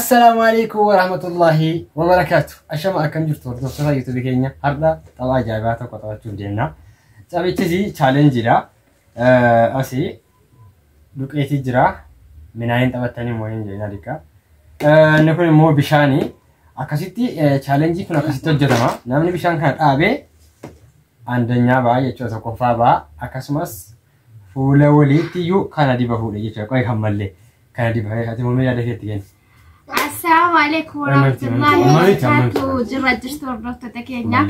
Assalaamu alaikum warahmatullahi wabarakaatu. Ashama akkam jirtu hordoftoota YouTube keenya har'a tapha ajaa'ibaa tokko taphachuuf deemna. Taphichis chaalenjiidha. Asi duqeetii jira. Minaayin taphattanii immoo hin jedhina dhiqqa. Inni kun immoo bishaani. Akkasitti chaalenjii kun akkasitti hojjetama. Namni bishaan kana dhaabee andanyaa ba'a jechuudha tokkoffaa ba'a. Akkasumas Fuula waliitti iyyuu kana diba fuudhe jechuudha. Qo'ee kan mallee kana diba. Ati mamee yaada keetti kenna. Assalaamu alaikum warahmatullahi wabarakatuh. Jirra jirtu hordoftoota keenya.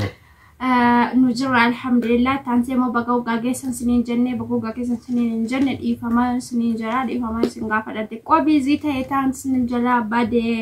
Nu jirra alhamdulillah. Taansee immoo baga waggaa geessan siniin jenne baga waggaa geessan siniin hin jenne dhiifama siniin jira dhiifama isin gaafadha. Xiqqoo biizii ta'e taan siniin jala badee.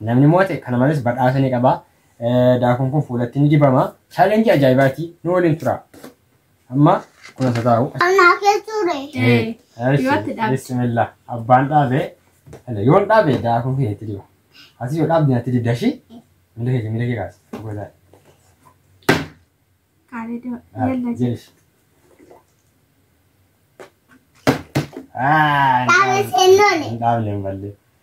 Namni moo'ate kana malees badhaasa ni qaba. Daakuun kun fuulatti ni dibama. Chaalenjii ajaa'ibaati. Nu waliin tura. Amma kunas haa taa'u. Anaa keessuure. Yoo itti dhaabde. Bismillah. Abbaan dhaabe. Ala, Yoon dhaabe daakuun kee itti diba. Ati yoo dhaabde natti dibda shi. Miila kee miila kee kaasi. Godaa. Kaalee doo. Yalla jedhe. Jeesh. Ah, Dhaabes hin loole. Hin dhaabne hin malle.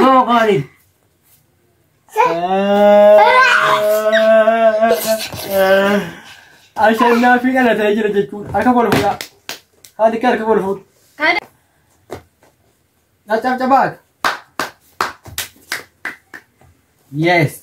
Nama qaali. Ashannaafi dhalatee jira jechuun harka koo fuudhaa. Haati kee harka koo fuudhu. Kana Caccabcabaat. Yes.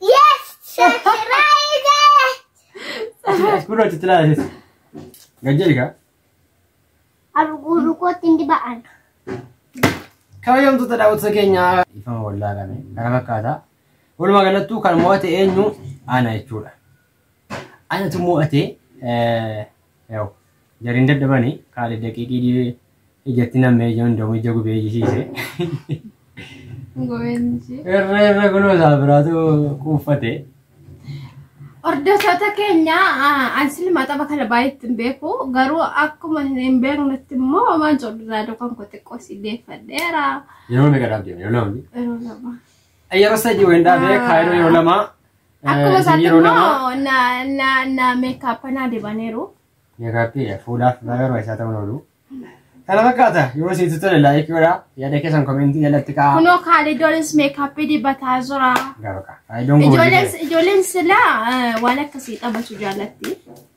Yes, surprise! As kunoo itti ilaalis. Gajjeli kaa. Arguu kootti hin diba'an. Kabajamtoota daawwattoota keenyaa. Ifama wallaa kana kana fakkaata. Walumaa galattuu kan mo'ate eenyu ana jechuudha. Anatu mo'ate Yaw jariin dadhabani kaale daqiiqii dhiyee ijatti nammee ija hundamu ija gubee ijisiise. Goweensi. Irra irra kunoo isaa biraatu quuffate. Hordoftoota keenya an silma tapha kana baay'eetti hin beeku garuu akkuma hin beeknetti immoo homaan coddaa dukan koo xiqqoo si deeffadheera. Yeroo meeqa dhaabdeema yeroo lama. Yeroo lama. Yeroo sadii wayindaa bee kaayiroo yeroo lama Akkuma Eh, isaatti yeroo lama- immoo na na na meekaap anaa dibaniiru. Meekaappiidha. Fuulaaf baay'ee barbaachisaa ta'uu oolu. Kana fakkaata. Yoo sitti tole laayikii godhaa. Yaada keessan komentii jalatti kaa'aa. Kunoo kaalidoonis meekaappii dibataa jira. Gaafa ka'a. Faayidoon kun Ijoolleen ijoolleen silaa eh, waan akkasii taphachuu jaallatti.